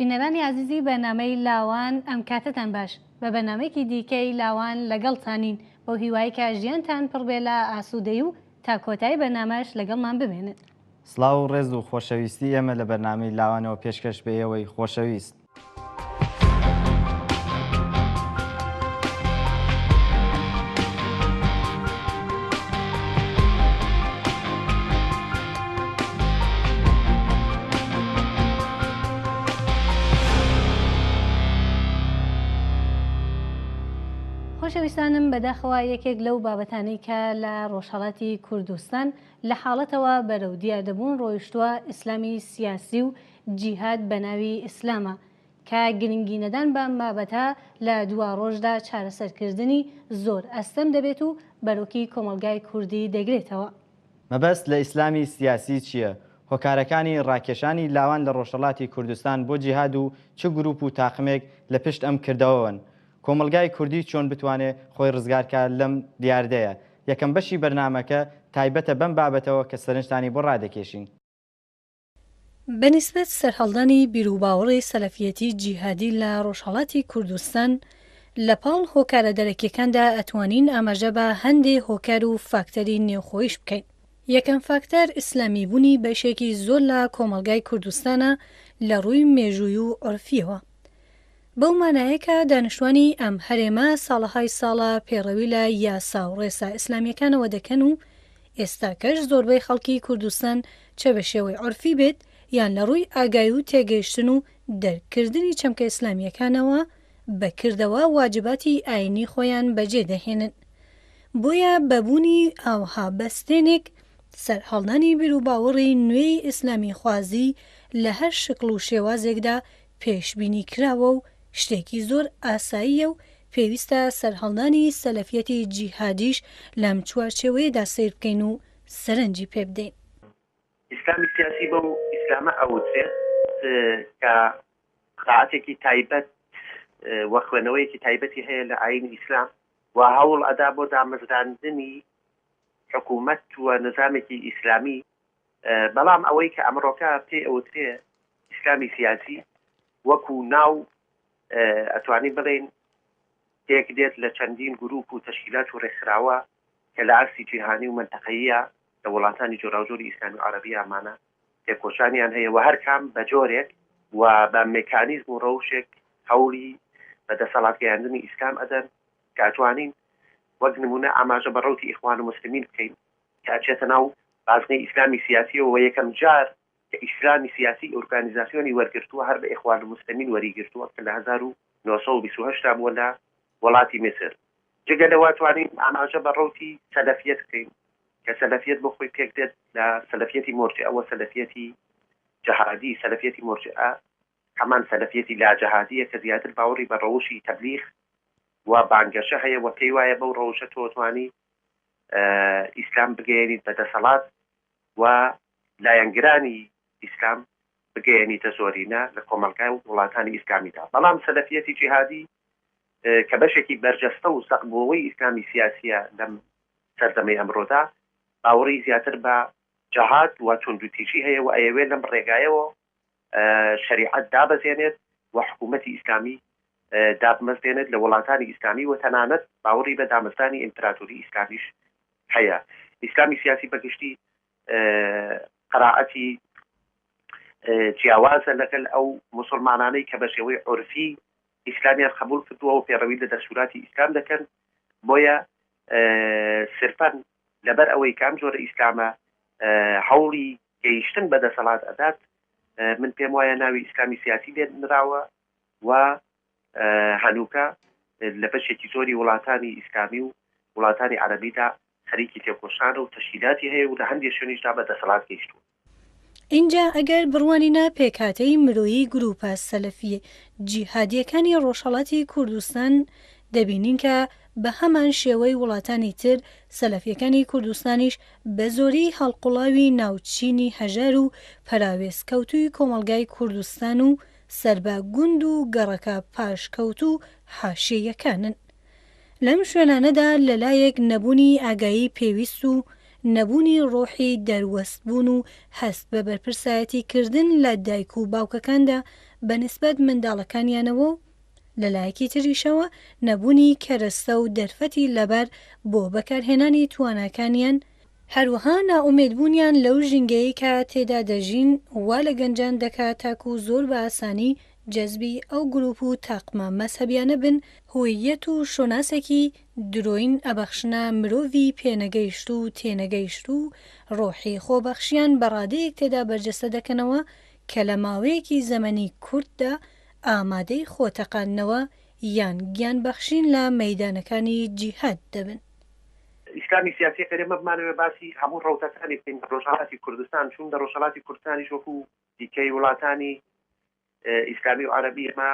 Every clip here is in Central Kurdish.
بینەرانی ئازیزی بەرنامەی لاوان ئەم کاتەتان باش بە بەرنامەیەکی دیکەی لاوان لەگەڵتانین بەو هیوای کە ژیانتان پڕ بێ لە ئاسودەی و تا کۆتایی بەرنامەش لەگەڵمان بمێنن. سڵاو و ڕێز و خۆشەویستی ئێمە لە بەرنامەی لاوانەوە پێشکەش بە ئێوەی خۆشەویست. خۆشەویستانم بەداخەوە یەکێک لەو بابەتانی کە لە ڕۆژهڵاتی کوردستان لە حاڵەتەوە بەرەو دیاردەبوون ڕۆیشتووە ئیسلامی سیاسی و جیهاد بە ناوی ئیسلامە کە گرنگی نەدان بە ئەم بابەتە لە دواڕۆژدا چارەسەرکردنی زۆر ئەستەم دەبێت و بەرۆکی کۆمەڵگای کوردی دەگرێتەوە. مەبەست لە ئیسلامی سیاسی چییە؟ هۆکارەکانی ڕاکێشانی لاوان لە ڕۆژهەڵاتی کوردستان بۆ جیهاد و چ گروپ و تاقمێک لە پشت ئەم کردەوەوەن؟ کۆمەڵگای کوردی چۆن بتوانێ خۆی ڕزگارکا لەم دیاردەیە؟ یەکەم بەشی بەرنامەکە تایبەتە بەم بابەتەوە کە سەرنجتانی بۆ ڕادەکێشین. بە نیسبەت سەرهەڵدانی بیروباوەڕی سەلەفیەتی جیهادی لە ڕۆژهەڵاتی کوردستان لە پاڵ هۆکارە دەرەکیەکاندا ئەتوانین ئاماژە بە هەندێ هۆکار و فاکتەری نێوخۆیش بکەین. یەکەم فاکتەر ئیسلامیبونی بەشێکی زۆر لە کۆمەڵگای کوردستانە لە ڕووی مێژووی و عورفیەوە. بەو مانایە کە دانیشتوانی ئەم هەرێمە ساڵەهای ساڵە پێڕەوی لە یاسا و ڕێسا ئیسلامیەکانەوە دەکەن و ئێستاکەش زۆربەی خەڵکی کوردستان چە بە شێوەی عورفی بێت یان لە ڕووی ئاگای و تێگەیشتن و دەرک کردنی چەمکە ئیسلامیەکانەوە بە کردەوە واجباتی ئاینی خۆیان بە جێ دەهێنن بۆیە بە بوونی ئاوها بەستێنێک سەر هەڵدانی بیروباوەڕی نوێی ئیسلامی خوازی لە هەر شکڵ و شێوازێکدا پێشبینی کراوە و شتێکی زۆر ئاساییە و پێویستە سەرهەڵدانی سەلەفیەتی جیهادیش لەم چوارچێوەیەدا سەیر بکەین و سەرنجی پێ بدەین. ئیسلامی سیاسی بەو ئیسلامە ئەوترێت کە قەناعەتێکی تایبەت و خوێنەوەیەکی تایبەتی هەیە لە ئایینی ئیسلام و هەوڵ ئەدا بۆ دامەزراندنی حکوومەت و نیزامێکی ئیسلامی بەڵام ئەوەی کە ئەمڕۆکە پێی ئەوترێ ئیسلامی سیاسی وەکو ناو ئەتوانین بڵێین پێک دێت لە چەندین گروپ و تەشکیلات و ڕێکخراوە کە لە ئاستی جیهانی و مەنتەقەییە لە وڵاتانی جۆراوجۆری ئیسلامی و عەرەبی ئامانە تێکۆشانیان هەیە و هەر کام بە جۆرێک و بە مێکانیزم و ڕەوشێک هەوڵی بە دەسەڵات گەیاندنی ئیسلام ئەدەن کە ئەتوانین وەک نمونە ئاماژە بە ڕەوتی ئیخوان موسلمین بکەین تا چێتە ناو بازنەی ئیسلامی سیاسیەوە و یەکەم جار کە ئیسلامی سیاسی ئورگانیزاسیۆنی وەرگرتووە هەر لە ئیخوان الموسلمین وەری گرتووە کە لە هەزار و نۆ سەد و بیست و هەشت دا بووە لە وەڵاتی میسر. جگە لەوە توانین ئاماژە بە ڕەوتی سەلەفیەت بکەین کە سەلەفیەت بۆ خۆی پێک دێت لە سەلەفیەتی مورجئە و سەلەفیەتی جەهادی، سەلەفیەتی مورجئە هەمان سەلەفیەتی لا جەهادیە کە زیاتر باوەڕی بە ڕەوشی تەبلیغ و بانگەشە هەیە و پێی وایە بەو ڕەوشە تۆ توانی ئیسلام بگەیەنیت بە دەسەڵات و لایەنگرانی ئیسلام بگەیەنیتە زۆرینە لە کۆمەڵگا و وڵاتانی ئیسلامیدا. بەڵام سەلەفیەتی جیهادی کە بەشێکی بەرجەستە و سەقبووەوەی ئیسلامی سیاسییە لەم سەردەمەی ئەمرۆدا، باوەڕی زیاتر بە جەهاد و توندوتیژی هەیە و ئەیەوێت لەم ڕێگایەوە شەریعەت دابەزێنێت و حکوومەتی ئیسلامی دابمەزرێنێت لە وڵاتانی ئیسلامی و تەنانەت باوەڕی بە دامەزرانی ئیمپراتۆری ئیسلامیش هەیە. ئیسلامی سیاسی بە گشتی قەرائەتی جیاوازە لەگەل ئەو موسڵمانانەی کە بە شێوەی عورفی ئیسلامیان قەبووڵ کردووە و پێڕەوی لە دەستووراتی ئیسلام دەکەن، بۆیە سرفەن لەبەر ئەوەی کە ئەم جۆرە ئیسلامە هەوڵی گەیشتن بە دەسەڵات ئەدات من پێم وایە ناوی ئیسلامی سیاسی لێ نراوە و هەنووکە لە بەشێکی زۆری وڵاتانی ئیسلامی و وڵاتانی عەربیدا خەریکی تێکۆشان و تەشکیلاتی هەیە و لە هەندێک شوێنیشدا بە دەسەڵات گەیشتووە ئینجا ئەگەر بڕوانینە پێکهاتەی مرۆیی گرووپە سەلەفییە جیهادییەکانی ڕۆژهەڵاتی کوردستان دەبینین کە بە هەمان شێوەی وڵاتانی تر سەلەفییەکانی کوردستانیش بە زۆری هەڵقوڵاوی ناو چینی هەژار و پەراوێزکەوتووی کۆمەڵگای کوردستان و سەر بە گوند و گەڕەکە پاشکەوتوو و حاشیەیەکانن لەم شوێنانەدا لەلایەک نەبوونی ئاگایی پێویست و نەبوونی ڕۆحی دەروەستبوون و هەست بە بەرپرسایەتی کردن لە دایک و باوکەکاندا بە نیسبەت منداڵەکانیانەوە و لەلایەکی تریشەوە نەبوونی کەرەستە و دەرفەتی لەبار بۆ بەکارهێنانی تواناکانیان هەروەها نائومێدبوونیان لەو ژینگەیەی کە تێدا دەژین وا لە گەنجان دەکات تاکو زۆر بە ئاسانی جەزبی ئەو گروپ و تاقمە مەزهەبیانە بن هوییەت و شۆناسێکی درۆین ئەبەخشنە مرۆڤی پێنەگەیشتو و تێنەگەیشتو و ڕۆحی خۆبەخشیان بە ڕادەیەک تێدا بەرجەستە دەکەنەوە کە لە ماوەیەکی زەمەنی کورتدا ئامادەی خۆتەقاندنەوە یان گیانبەخشین لە مەیدانەکانی جیهاد دەبن. ئیسلامی سیاسیەک ئەرێ مە بمانەوێ باسی هەموو ڕەوتەکانی بکەین لە ڕۆژهەڵاتی کوردستان چون لە ڕۆژهەڵاتی کوردستانیش وەکو دیکەی وڵاتانی ئیسلامی و عەرەبی ئێمە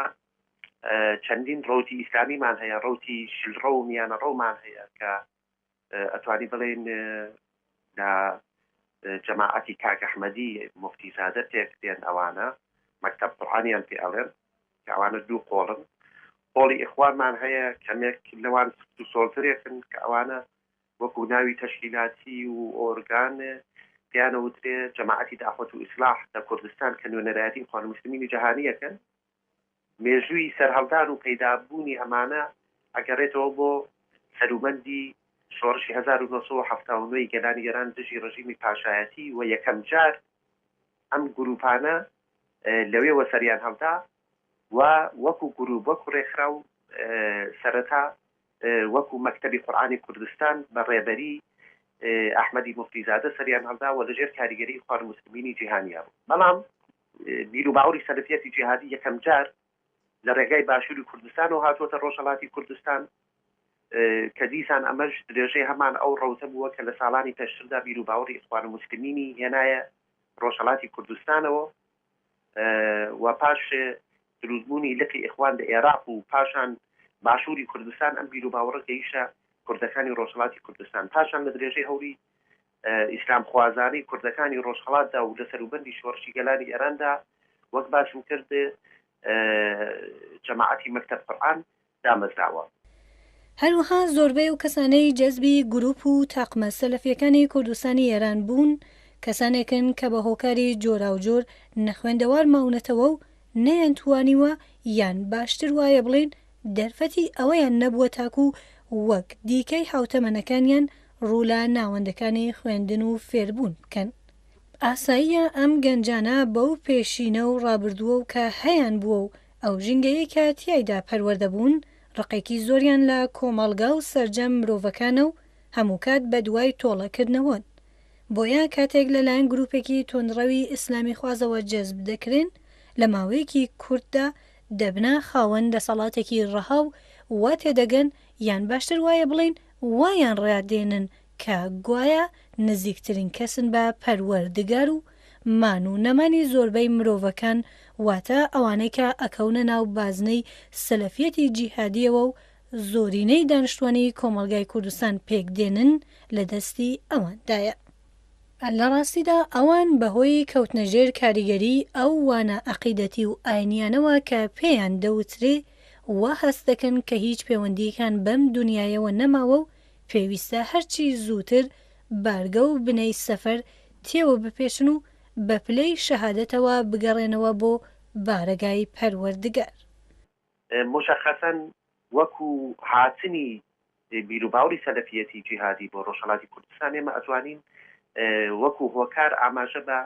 چەندین ڕوتی ئیسلامیمان هەیە ڕوتی شلڕە و میانە ڕەومان هەیە کە ئەتوانی بڵێن لە جەماعەتی کاکەحمەدی مفتیزادە تێکتێن ئەوانە مەکتب قڕانیان پێ ئەڵێن کەئەوانە دوو قۆڵن قۆڵی ئیخوانمان هەیە کەمێک لەوان سفت و سۆڵترێکن کەئەوانە وەکو ناوی تەشکیلاتی و ئۆرگان پێیان ئەوترێ جەماعەتی دەعوەت و ئیسلاح لەکوردستان کەنوێنەرایەتی ئیخوان موسلمینی جەهانی ئەکەن مێژووی سەرهەڵدان و پەیدابوونی ئەمانە ئەگەڕێتەوە بۆ سەروبەندی شۆڕشی هەزار و نۆ سەد و حەفتا و نۆ ی گەلانی ئێران دژی ڕژیمی پاشایەتی و یەکەم جار ئەم گرووپانە لەوێوە سەریان هەڵدا و وەکوو گرووپ، وەکوو ڕێکخراو سەرەتا وەکوو مەکتەبی قورئانی کوردستان بە ڕێبەریی ئەحمەدی موفتیزادە سەریان هەڵدا و لەژێر کاریگەریی ئیخوان موسلمینی جیهانیا بوو. بەڵام بیروباوەڕی سەلەفییەتی جیهادی یەکەمجار لە ڕێگای باشوری کوردستانەوە هاتووەتە ڕۆژهەڵاتی کوردستان، کە دیسان ئەمەش درێژەی هەمان ئەو ڕەوتە بووە کە لە ساڵانی پێشتردا بیروباوەڕی ئیخوانولموسلمینی هێنایە ڕۆژهەڵاتی کوردستانەوە و پاش دروستبوونی لقی ئیخوان لە ئێراق و پاشان باشوری کوردستان ئەم بیروباوەڕە گەیشتە کوردەکانی ڕۆژهەڵاتی کوردستان پاشان لە درێژەی هەوڵی ئیسلامخوازانەی کوردەکانی ڕۆژهەڵاتدا و لە سەروبەندی شۆڕشی گەلانی ئێراندا وەک باسم کرد جەماعەتی مەکتەب قورئان دامەزراوە. هەروەها زۆربەی ئەو کەسانەی جەزبی گرووپ و تاقمە سەلەفییەکانی کوردستانی ئێران بوون کەسانێکن کە بە هۆکاری جۆراوجۆر نەخوێندەوار ماونەتەوە و نەیانتوانیوە یان باشتر وایە بڵێین دەرفەتی ئەوەیان نەبووە تاکوو وەک دیکەی هاوتەمەنەکانیان ڕوو لە ناوەندەکانی خوێندن و فێربوون بکەن. ئاساییە ئەم گەنجانە بەو پێشینە و ڕابردووە و کە هەیانبووە و ئەو ژینگەیەی کە تیایدا پەروەردە بوون، ڕقێکی زۆریان لە کۆمەڵگا و سەرجەم مرۆڤەکانە و هەمووکات بەدوای تۆڵەکردنەوەن. بۆیە کاتێک لەلایەن گرووپێکی توندڕەوی ئیسلامیخوازەوە جەزب دەکرێن، لە ماوەیەکی کورتدا دەبنە خاوەن دەسەڵاتێکی ڕەها و وا تێدەگەن، یان باشتر وایە بڵێین وایان ڕادێنن کە گوایە نزیکترین کەسن بە پەروەردگار و مان و نەمانی زۆربەی مرۆڤەکان واتە ئەوانەی کە ئەکەونە ناو بازنەی سەلەفیەتی جیهادیەوە و زۆرینەی دانشتوانی کۆمەڵگای کوردستان پێک دێنن لە دەستی ئەواندایە. لە ڕاستیدا ئەوان بە هۆی کەوتنە ژێر کاریگەریی ئەو وانە ئەقیدەتی و ئاینیانەوە کە پێیان دەوترێ، وا هەست دەکەن کە هیچ پێوەندییەکان بەم دونیایەوە نەماوە و پێویستە هەرچی زووتر بارگە و بنەی سەفەر تێوە بپێچن و بە پلەی شەهادەتەوە بگەڕێنەوە بۆ بارەگای پەروەردگار. موشەخەسەن وەکوو هاتنی بیروباوەڕی سەلەفیەتی جیهادی بۆ ڕۆژهەڵاتی کوردستان ئێمە ئەتوانین وەکو هۆکار ئاماژە بە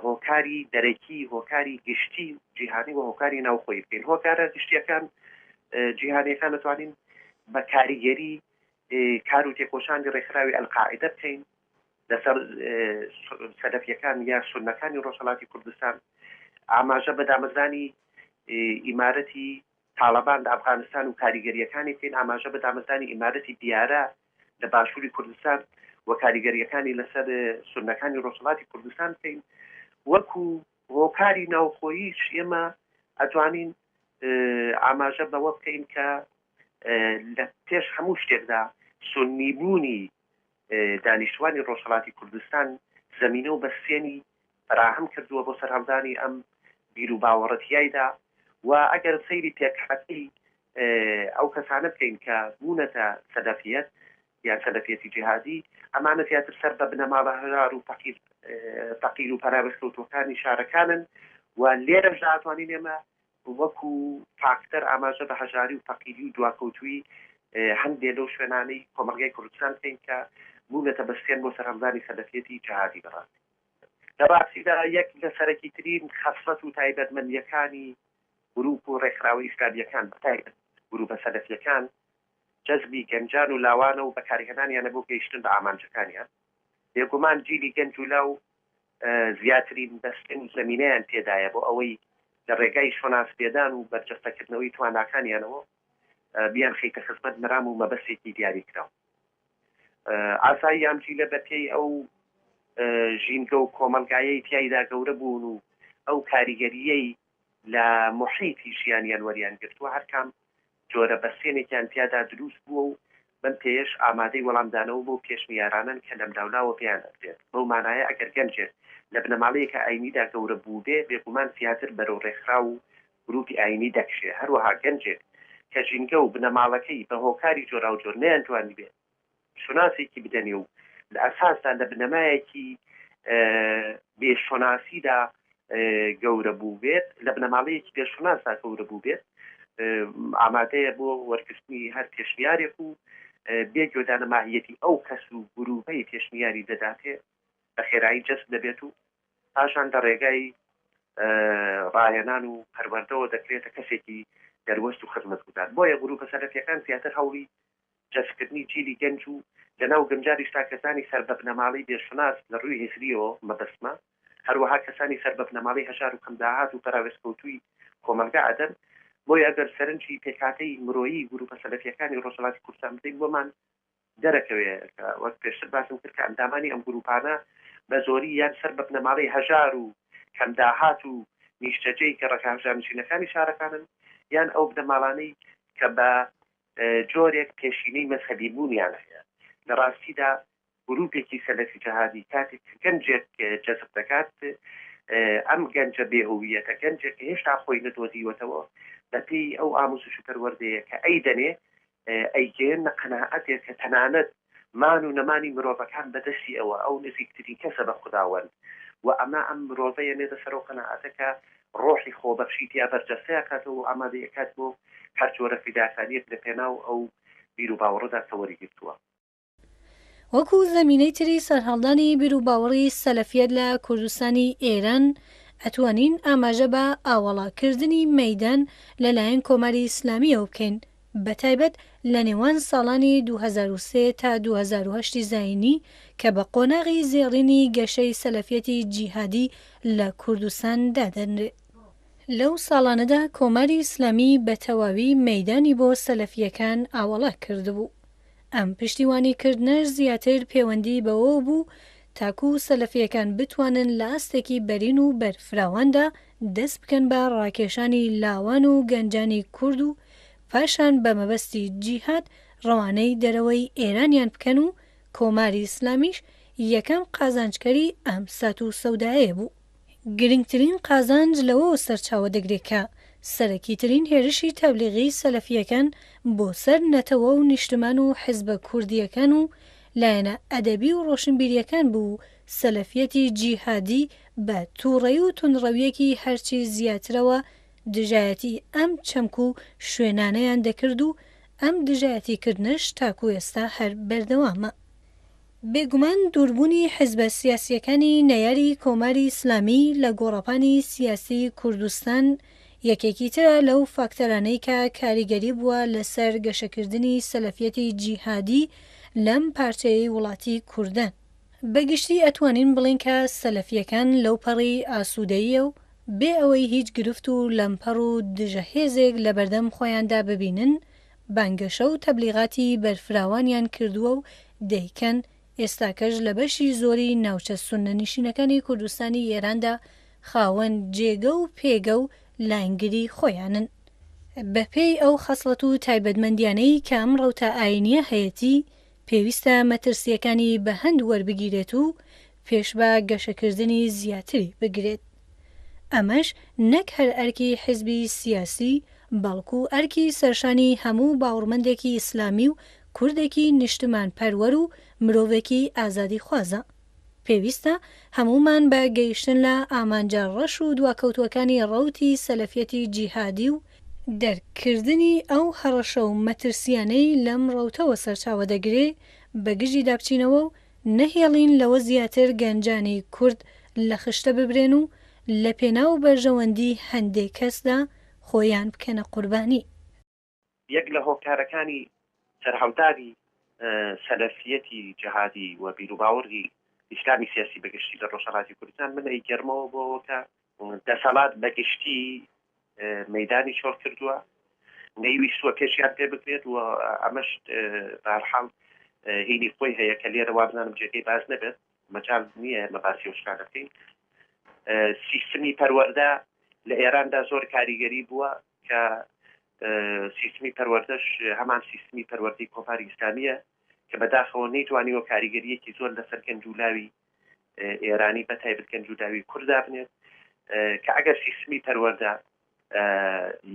هۆکاری دەرەکی، هۆکاری گشتی و جیهانی و هۆکاری ناوخۆیی بکەین. هۆکارە گشتییەکان جیهانییەکان ئەتوانین بە کاریگەری کار و تێکۆشانی ڕێکخراوی ئەلقاعیدە بکەین لەسەر سەلەفیەکان یا سوننەکانی ڕۆژهەڵاتی کوردستان، ئاماژە بە دامەزرانی ئیمارەتی تاڵەبان لە ئەفغانستان و کاریگەرییەکانی بکەین، ئاماژە بە دامەزرانی ئیمارەتی دیارە لە باشووری کوردستان و کاریگەرییەکانی لەسەر سوننەکانی ڕۆژهەڵاتی کوردستان بکەین وەکو هۆکاری ناوخۆییش ئێمە ئەتوانین ئاماژە بەوە بکەین کە لە پێش هەموو شتێکدا سوننیبوونی دانیشتوانی ڕۆژهەڵاتی کوردستان زەمینە و بەستێنی فەراهەم کردووە بۆ سەرهەڵدانی ئەم بیر و باوەڕە تیایدا و ئەگەر سەیری پێکهاتەی ئەو کەسانە بکەین کە بوونەتە سەلەفیەت یان سەلەفیەتی جیهادی ئەمانە زیاتر سەر بە بنەماڵە هەژار و فەقیر فەقیر و پەراوێزکەوتووەکانی شارەکانن و لێرەشدا ئەتوانین ئێمە وەکو فاکتەر ئاماژە بە هەژاری و فەقیری و دواکەوتوویی هەندێ لەو شوێنانەی کۆمەڵگای کوردستان بکەین کە بوونەتە بەستێن بۆ سەرهەڵدانی سەلەفیەتی جەهادی بەڕاستی. لە ڕاستیدا یەک لە سەرەکیترین خەسڵەت و تایبەتمەندییەکانی گروپ و ڕێکخراوە ئیسلامییەکان بە تایبەت گروپە سەلەفییەکان جەزبی گەنجان و لاوانە و بەکارهێنانیانە بۆ گەیشتن بە ئامانجەکانیان. بێگومان جیلی گەنج و لاو زیاترین بەستێن و زەمینەیان تێدایە بۆ ئەوەی لە ڕێگای شۆناس پێدان و بەرجەستەکردنەوەی تواناکانیانەوە بیانخەیتە خزمەت مەرام و مەبەستێکی دیاریکراو. ئاسای یانفیلە بە پێی ئەو ژینگە و کۆمەڵگایەی تیایدا گەورە بوون و ئەو کاریگەرییەی لە موحیتی ژیانیان وەریان گرتووە هەرکام جۆرە بەستێنێکیان تیادا دروست بووە و بەم پێیەش ئامادەی وەڵامدانەوە بەو پێشنیارانەن کە لەملاولاوە پێیان ئەدرێت. بەو مانایە ئەگەر گەنجێک لە بنەماڵەیەکە ئایینیدا گەورە بووبێ، بێگومان زیاتر بەرەو ڕێکخراو و گرووپی ئایینی دەکشێ. هەروەها گەنجێک کە ژینگە و بنەماڵەکەی بە هۆکاری جۆراوجۆر نەیانتوانیبێ شوناسێکی بدەنێ و لە ئەساسدا لە بنەمایەکی بێ شوناسیدا گەورە بووبێت، لە بنەماڵەیەکی بێ شوناسدا گەورە بووبێت، ئامادەیە بۆ وەرگرتنی هەر پێشنیارێک و بێ گوێدان لە ماهیەتی ئەو کەس و گرووپەی پێشنیاری دەداتێ بە خێرایی جەزب دەبێت و پاشان لە ڕێگای ڕاهێنان و پەروەردەوە دەکرێتە کەسێکی دەروەست و خزمەتگوزار. بۆیە گرووپە سەرەکییەکان زیاتر هەوڵی جەستکردنی جیلی گەنج و لەناو گەنجانیشدا کەسانی سەر بە بنەماڵەی بێ شوناس لە ڕووی هزرییەوە مەبەستمە، هەروەها کەسانی سەر بە بنەماڵەی هەژار و کەم داهات و پەراوێزکەوتووی کۆمەڵگا ئەدەن، بۆیە ئەگەر سەرنجی پێکهاتەی مرۆیی گرووپە سەلەفییەکانی ڕۆژهەڵاتی کوردستان بدەین بۆمان دەرەکەوێ کە وەک پێشتر باسم کرد کە ئەندامانی ئەم گرووپانە بە زۆری یان سەر بە بنەماڵەی هەژار و کەم داهات و نیشتەجێی گەڕەکە هەژارنشینەکانی شارەکانن یان ئەو بنەماڵانەی کە بە جۆرێک پێشینەی مەزهەبی بوونیان هەیە، لە ڕاستیدا گرووپێکی سەلەفی جەهادی کاتێک کە گەنجێک جەزب دەکات، ئەم گەنجە بێ هووییەتە، گەنجێک کە هێشتا خۆی نەدۆزیوەتەوە، بە پێی ئەو ئامووزش و پەروەردەیە کە ئەیدەنێ، ئەیگەیەننە قەناعەتێک کە تەنانەت مان و نەمانی مرۆڤەکان بە دەستی ئەوە، ئەو نزیکترین کەسە بە خوداوەند و ئەمە ئەم مرۆڤە یەنێتە سەر ئەو قەناعەتە کە ڕۆحی خۆبەخشی تیا بەرجەستەی ئەکاتەوە و ئامادەی ئەکات بۆ هەر جۆرە فیداکاریەک لە پێناو ئەو بیروباوەڕەدا کە وەری گرتووە. وەکو زەمینەی تری سەرهەڵدانی بیروباوەڕی سەلەفیەت لە کوردستانی ئێران ئەتوانین ئاماژە بە ئاوەڵا کردنی مەیدان لە لایەن کۆماری ئیسلامیەوە بکەین بەتایبەت لە نێوان ساڵانی دوو هەزار و سێ تا دوو هەزار و هەشت زایینی کە بە قۆناغی زێڕینی گەشەی سەلەفیەتی جیهادی لە کوردستان دادەنرێت. لەو ساڵانەدا کۆماری ئیسلامی بە تەواوی مەیدانی بۆ سەلەفییەکان ئاوەڵا کردبوو. ئەم پشتیوانی کردنەش زیاتر پێوەندی بەوەوە بوو تاکوو سەلەفییەکان بتوانن لە ئاستێکی بەرین و بەرفراواندا دەست بکەن بە ڕاکێشانی لاوان و گەنجانی کورد و پاشان بە مەبەستی جیهاد ڕەوانەی دەرەوەی ئێرانیان بکەن و کۆماری ئیسلامیش یەکەم قازانجکەری ئەم سات و سەودایەیە بوو. گرنگترین قازانج لەوەوە سەرچاوە دەگرێ کە سەرەکیترین هێرشی تەبلیغی سەلەفییەکان بۆ سەر نەتەوە و نیشتمان و حیزبە کوردییەکان و لایەنە ئەدەبی و ڕۆشنبیرییەکان بوو سەلەفیەتی جیهادی بە توڕەی و توندڕەویەکی هەرچی زیاترەوە دژایەتی ئەم چەمک و شوێنانەیان دەکرد و ئەم دژایەتی کردنەش تاکو ئێستا هەر بەردەوامە. بێگومان دوربونی حزبە سیاسیەکانی نەیاری کۆماری ئیسلامی لە گۆڕەپانی سیاسی کوردستان یەکێکی ترە لەو فاکتەرانەی کە کاریگەری بوە لەسەر گەشەکردنی سەلەفیەتی جیهادی لەم پارچەیەی وڵاتی کوردان. بە گشتی ئەتوانین بڵێین کە سەلەفییەکان لەو پەڕی ئاسوودەییە و بێ ئەوەی هیچ گرفت و لەمپەڕ و دژە هێزێک لە بەردەم خۆیاندا ببینن بانگەشە و تەبلیغاتی بەرفراوانیان کردووە و دەیکەن، ئێستاکەش لە بەشی زۆری ناوچە سوننەنیشینەکانی کوردستانی ئێراندا خاوەن جێگە و پێگە و لایەنگری خۆیانن. بەپێی ئەو خەسڵەت و تایبەتمەندییانەی کە ئەم ڕەوتە ئایینییە هەیەتی، پێویستە مەترسییەکانی بە هەند وەربگیرێت و پێش بە گەشەکردنی زیاتری بگرێت. ئەمەش نەک هەر ئەرکی حیزبی سیاسی، بەڵکو ئەرکی سەرشانی هەموو باوڕمەندێکی ئیسلامی و کوردێکی نیشتمانپەروەر و مرۆڤێکی ئازادیخوازە. پێویستە هەموومان بە گەیشتن لە ئامانجە ڕەش و دواکەوتووەکانی ڕەوتی سەلەفیەتی جیهادی و، دەرک کردنی ئەو هەڕەشە و مەترسییانەی لەم ڕەوتەوە سەرچاوە دەگرێ، بەگژیدا بچینەوە و نەهێڵین لەوە زیاتر گەنجانی کورد لە خشتە ببرێن و لە پێناو بەرژەوەندی هەندێ کەسدا خۆیان بکەنە قوربانی. یەک لە هۆکارەکانی سەرهەڵدانی سەلەفیەتی جەهادی و بیروباوەڕی ئیسلامی سیاسی بە گشتی لە ڕۆژهەڵاتی کوردستان من ئەیگەرمەوە بۆەوە کە دەسەڵات بە گشتی مەدانی چۆڵ کردووە نەیویستوە پێشیان پێ بکرێت و ئەمەش بارحاڵ هینی خۆی هەیە کە لێرە وابزانم جێگەی باز نەبێت مەجال نییە لەباسی ئەو شتانە بکەین. سیستمی پەروەردە لە ئێراندا زۆر کاریگەری بووە کە سیستمی پەروەردەش هەمان سیستمی پەروەردەی کۆماری ئیسلامییە کە بەداخەوە نەیتوانیوە کاریگەریەکی زۆر لەسەر گەنج و لاوی ئێرانی بە تایبەت گەنج و لاوی کورد دابنێت کە ئەگەر سیستمی پەروەردە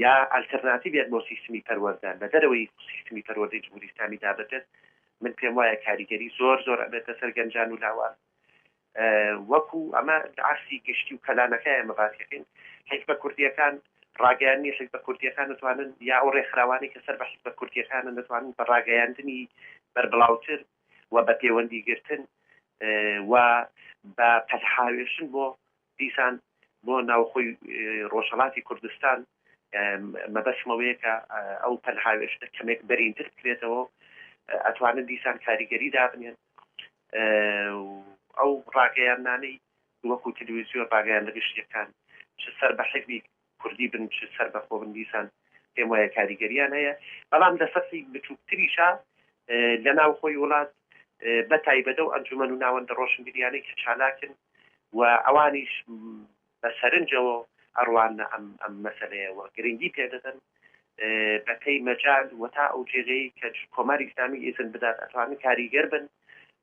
یا ئەلتەرناتیڤێک بۆ سیستمی پەروەردە لە دەرەوەی سیستمی پەروەردەی جمهوری ئیسلامی دابنرێت، من پێم وایە کاریگەری زۆر زۆر ئەبێتە سەر گەنجان و لاوان. وەکو ئەمە عەکسی گشتی و کەلانەکەیە ئێمە باسی دەکەین. حیزبە کوردییەکان ڕاگەیاندنی حیزبە کوردییەکان دەتوانن یا ئەو ڕێکخراوانەی کە سەر بە حیزبە کوردییەکانن دەتوانن بە ڕاگەیاندنی بەربڵاوتر و بە پێوەندیگرتن و بە پەلهاوێشتن بۆ دیسان بۆ ناوخۆی ڕۆژهەڵاتی کوردستان مەبەستم ئەوەیە کە ئەو پەلهاوێشتە کەمێک بەرینتر بکرێتەوە و ئەتوانن دیسان کاریگەری دابنێن و ئەو ڕاگەیاندنانەی وەکوو تلویزیۆن ڕاگەیاندە گشتییەکان چ سەر بە حزبی کوردی بن چ سەربەخۆ بن دیسان پێم وایە کاریگەریان هەیە بەڵام لە سەتحی بچووکتریشا لە ناوخۆی وڵات بە تایبەت ئەو ئەنجومەن و ناوەندە ڕۆشنبیریانەی کە چالاکن و ئەوانیش بە سەرنجەوە ئەڕواننە ئەم ئەم مەسەلەیە و گرنگی پێ دەدەن بە پێی مەجال و تا ئەو جێگەی کە کۆماری ئیسلامی ئیزن بدات ئەتوانن کاریگەر بن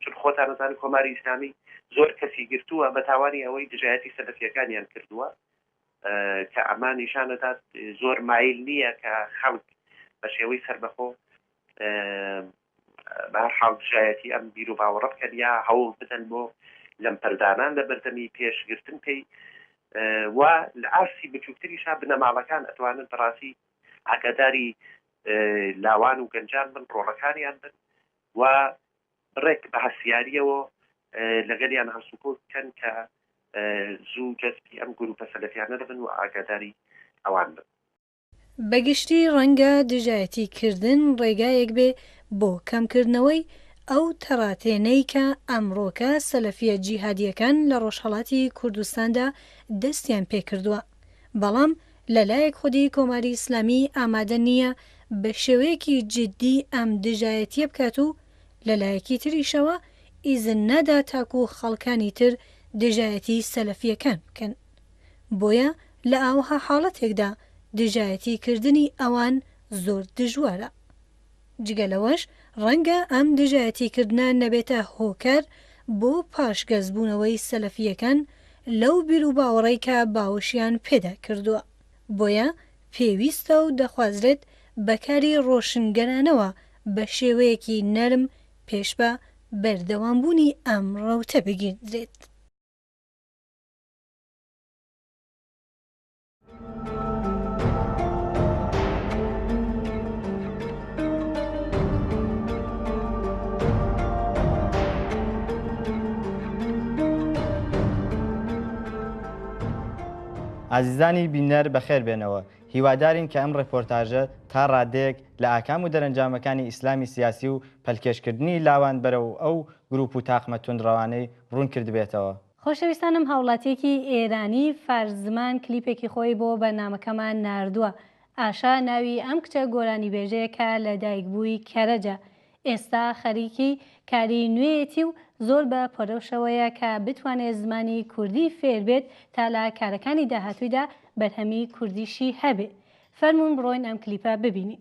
چون خۆتان دەزانن کۆماری ئیسلامی زۆر کەسی گرتووە بە تاوانی ئەوەی دژایەتی سەلەفییەکانیان کردووە کە ئەمە نیشان دەدات زۆر مایل نییە کە خەڵک بە شێوەی سەربەخۆ بە هەر حاڵ دژایەتی ئەم بیر و باوەڕە بکەن یا هەوڵ بدەن بۆ لەمپەردانان لە بەردەمی پێشگرتن پێی و لە ئاستی بچووکتریشا بنەماڵەکان ئەتوانن بەڕاستی ئاگاداری لاوان و گەنجان بن ڕۆڵەکانیان بن و ڕێک بە هەستیارییەوە لەگەلیان هەڵسوکەوت بکەن کە زوو جەزبی ئەم گرووپە سەلەفیانە دەبن و ئاگاداری ئەوان بن. بە گشتی ڕەنگە دژایەتی کردن ڕێگایەک بێ بۆ کەمکردنەوەی ئەو تەڕاتێنەی کە ئەمڕۆکە سەلەفییە جیهادییەکان لە ڕۆژهەڵاتی کوردستاندا دەستیان پێ کردووە، بەڵام لە لایەک خودی کۆماری ئیسلامی ئامادە نییە بە شێوەیەکی جیددی ئەم دژایەتییە بکات و لەلایەکی تریشەوە ئیزن نادا تاکو خەڵکانی تر دژایەتی سەلەفیەکان بکەن بۆیە لە ئاوەها حاڵەتێکدا دژایەتی کردنی ئەوان زۆر دژوارە جگە لەوەش ڕەنگە ئەم دژایەتی کردنە نەبێتە هۆکار بۆ پاشگەز بوونەوەی سەلەفیەکان لەو بیروباوەڕەی کە باوەشیان پێدا کردووە بۆیە پێویستە و دەخوازرێت بەکاری ڕۆشنگەرانەوە بە شێوەیەکی نەرم پێش بە بەردەوامبوونی ئەم ڕەوتە بگیردرێت. ئازیزانی بینەر بەخێربێنەوە. هیوادارین کە ئەم ڕێپۆرتاژە تا ڕادەیەک لە ئاکام و دەرەنجامەکانی ئیسلامی سیاسی و پەلکێشکردنی لاوان بەرەو ئەو گروپ و تاقمە توندڕەوانەی ڕوون کردبێتەوە. خۆشەویستانم هاوڵاتیەکی ئێرانی فارس زمان کلیپێکی خۆی بۆ بەرنامەکەمان ناردووە، ئاشا ناوی ئەم کچە گۆرانیبێژەیە کە لەدایکبووی کەرەجە، ئێستا خەریکی کاری نوێیەتی و زۆر بە پەرۆشەوەیە کە بتوانێت زمانی کوردی فێر بێت تا لە کارەکانی داهاتوویدا بەرهەمی کوردیشی هەبێ فەرموون بڕۆین ئەم کلیپە ببینین.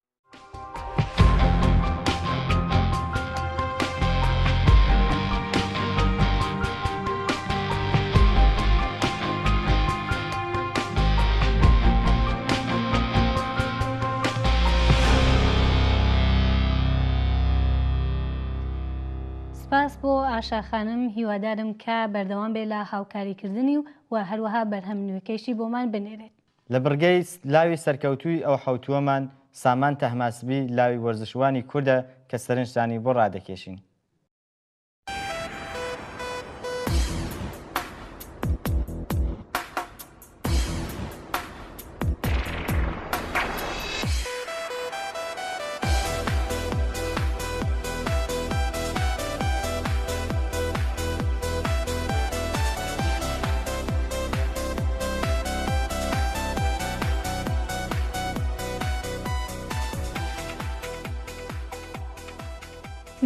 سپاس بۆ ئاشاخانم هیوادارم کە بەردەوام بێ لە هاوکاریکردنی و و هەروەها بەرهەم نوێکەیشی بۆمان بنێرێت لە بڕگەی لاوی سەرکەوتووی ئەو حەوتووەمان سامان تەهماسبی لاوی وەرزشوانی کوردە کە سەرنجتانی بۆ ڕادەکێشین.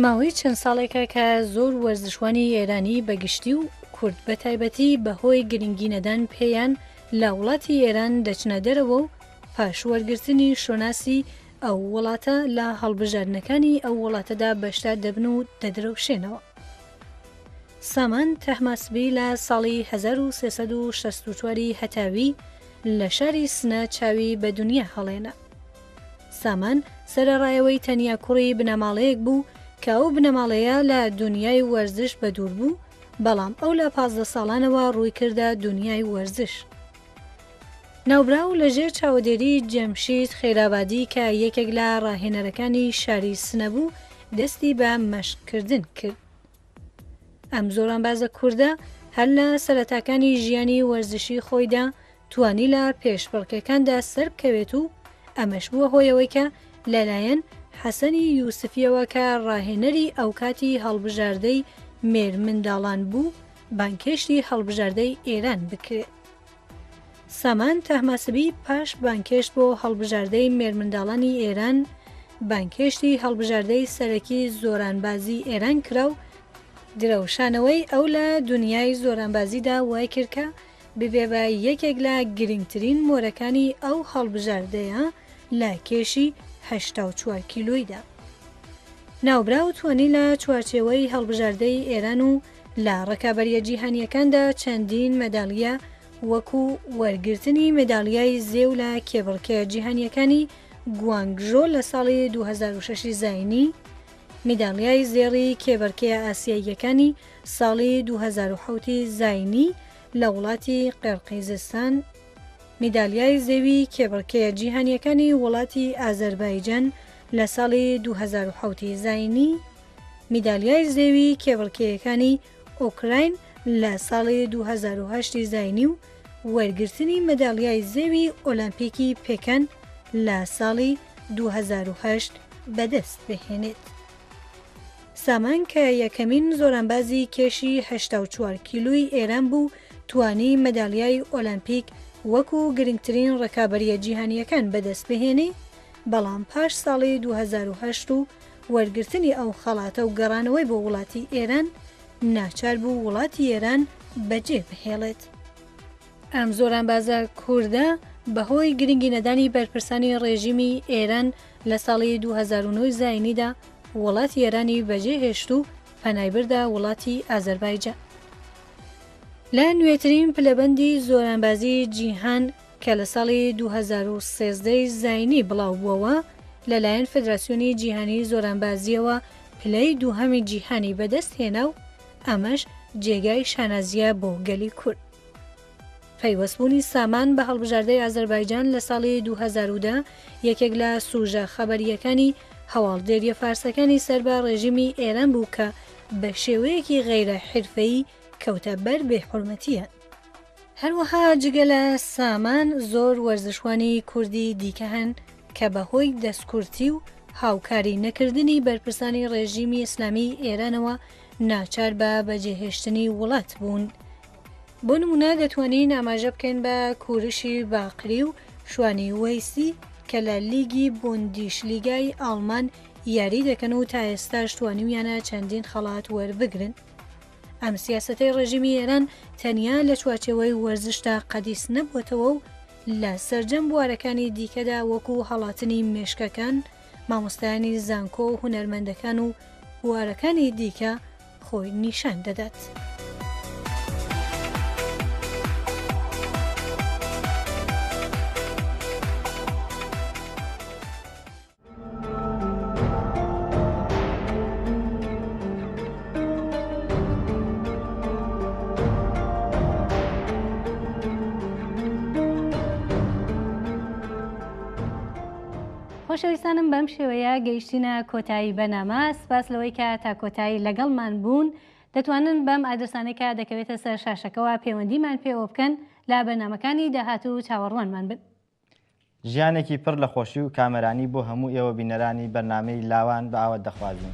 ماوەی چەند ساڵێکە کە زۆر وەرزشوانی ئێرانی بە گشتی و کورد بە تایبەتی بەهۆی گرنگی نەدان پێیان لە وڵاتی ئێران دەچنە دەرەوە و پاش وەرگرتنی شۆناسی ئەو وڵاتە لە هەڵبژاردنەکانی ئەو وڵاتەدا بەشدار دەبن و دەدرەوشێنەوە. سامان تەهماسبی لە ساڵی هەزار و سێ سەد و شەست و چوار ی هەتاوی لە شاری سنە چاوی بە دونیا هەڵێنا. سامان سەرەڕایەوەی تەنیا کوڕی بنەماڵەیەک بوو کە ئەو بنەماڵەیە لە دونیای وەرزش بەدوور بوو، بەڵام ئەو لە پازدە ساڵانەوە ڕووی کردە دونیای وەرزش. ناوبراو لە ژێر چاوەدێریی جەمشید خەیرابادی کە یەکێک لە ڕاهێنەرەکانی شاری سنە بوو، دەستی بە مەشقکردن کرد. ئەم زۆرانبازە کوردە هەر لە سەرەتاکانی ژیانی وەرزشیی خۆیدا توانی لە پێشبڕکێکاندا سەربکەوێت و ئەمەش بووە هۆی ئەوەی کە لەلایەن حەسەنی یوسفییەوە کە ڕاهێنەری ئەوکاتی هەڵبژاردەی مێرمنداڵان بوو بانگهێشتی هەڵبژاردەی ئێران بکرێت. سامان تاهماسبی پاش بانگهێشت بۆ هەڵبژاردەی مێرمنداڵانی ئێران، بانگهێشتی هەڵبژاردەی سەرەکی زۆرانبازی ئێران کرا و درەوشانەوەی ئەو لە دونیای زۆرانبازیدا وای کرد کە ببێ بە یەکێک لە گرنگترین مۆرەکانی ئەو هەڵبژاردەیە لە کێشی هەشتا و چوار کیلۆیدا. ناوبراو توانی لە چوارچێوەی هەڵبژاردەی ئێران و لە ڕکابەرییە جیهانییەکاندا چەندین مەدالیە وەکو وەرگرتنی مەدالیای زێو لە کێبڕکێ جیهانییەکانی گوانگژۆ لە ساڵی دوو هەزار و شەش ی زایینی، میدالیای زێڕی کێبەرکێ ئاسیاییەکانی ساڵی دوو هەزار و حەوت ی زایینی لە وڵاتی قیرقیزستان، میدالیای زێوی کێبڕکێ جیهانییەکانی وڵاتی ئازەربایجان لە ساڵی دوو هەزار و حەوت ی زایینی، میدالیای زێوی کێبڕکێیەکانی ئۆکراین لە ساڵی دوو هەزار و هەشت ی زاینی و وەرگرتنی مەدالیای زێوی ئۆلەمپیکی پێکەن لە ساڵی دوو هەزار و هەشت بەدەست بهێنێت. سامان کە یەکەمین زۆرانبازی کێشی هەشتا و چوار کیلوی ئێران بوو توانی مەدالیای ئۆلەمپیک وەکو گرنگترین ڕکابەریە جیهانیەکان بەدەست بهێنی بەڵام پاش ساڵی دوو هەزار و هەشت و وەرگرتنی ئەو خەڵاتە و گەڕانەوەی بۆ وڵاتی ئێران ناچار بوو وڵاتی ئێران بە جێ بهێڵێت. ئەم زۆرانبازە کوردە بە هۆی گرنگی نەدانی بەرپرسانی ڕێژیمی ئێران لە ساڵی دوو هەزار و نۆ زایینیدا وڵاتی ئێرانی بە جێ هێشت و پەنای بردە وڵاتی ئازەربایجان. لە نوێترین پلەبەندی زۆرانبازی جیهان، کە لە ساڵی دوو هەزار و سێزدە ی زاینی بڵاوبووەوە، لەلایەن فدراسیۆنی جیهانیی زۆرانبازییەوە پلەی دووهەمی جیهانی بەدەستهێنا و ئەمەش جێگای شانازییە بۆ گەلی کورد. پەیوەستبوونی سامان بە هەڵبژاردەی ئازەربایجان لە ساڵی دوو هەزار و دە یەکێک لە سووژە خەبەرییەکانی هەواڵدێرییە فارسەکانی سەر بە ڕێژیمی ئێران بوو کە بە شێوەیەکی غەیرە حیرفەیی کەوتە بەر بێحورمەتییان. هەروەها جگە لە سامان زۆر وەرزشوانی کوردی دیکە هەن کە بە هۆی دەستکورتی و هاوکاری نەکردنی بەرپرسانی ڕێژیمی ئیسلامیی ئێرانەوە ناچار بە بەجێهێشتنی وڵات بوون. بۆ نموونە دەتوانین ئاماژە بکەین بە کوورشی باقری و شوانی وەیسی کە لە لیگی بوندیشلیگای ئاڵمان یاری دەکەن و تا ئێستاش توانیویانە چەندین خەڵات وەربگرن. ئەم سیاسەتەی ڕێژیمی ئێران تەنیا لە چوارچێوەی وەرزشدا قەدیس نەبووەتەوە و لە سەرجەم بوارەکانی دیکەدا وەکو هەڵاتنی مێشکەکان، مامۆستایانی زانکۆ و هونەرمەندەکان و بوارەکانی دیکە خۆی نیشان دەدات. خۆشەویستانم بەم شێوەیە گەیشتینە کۆتایی بەنامە سپاس لەوەی کە تا کۆتایی لەگەڵمان بوون دەتوانن بەم ئادرسانێکە دەکەوێتە سەر شاشەکەەوە پەیوەندیمان پێوە بکەن لا بەرنمەکانی داهاتوو چاوەڕوانمان بن. ژیانێکی پڕ لە خۆشی و کامەرانی بۆ هەموو ئێوە بینەرانی بەرنامەی لاوان بە ئاوەت دەخوازین.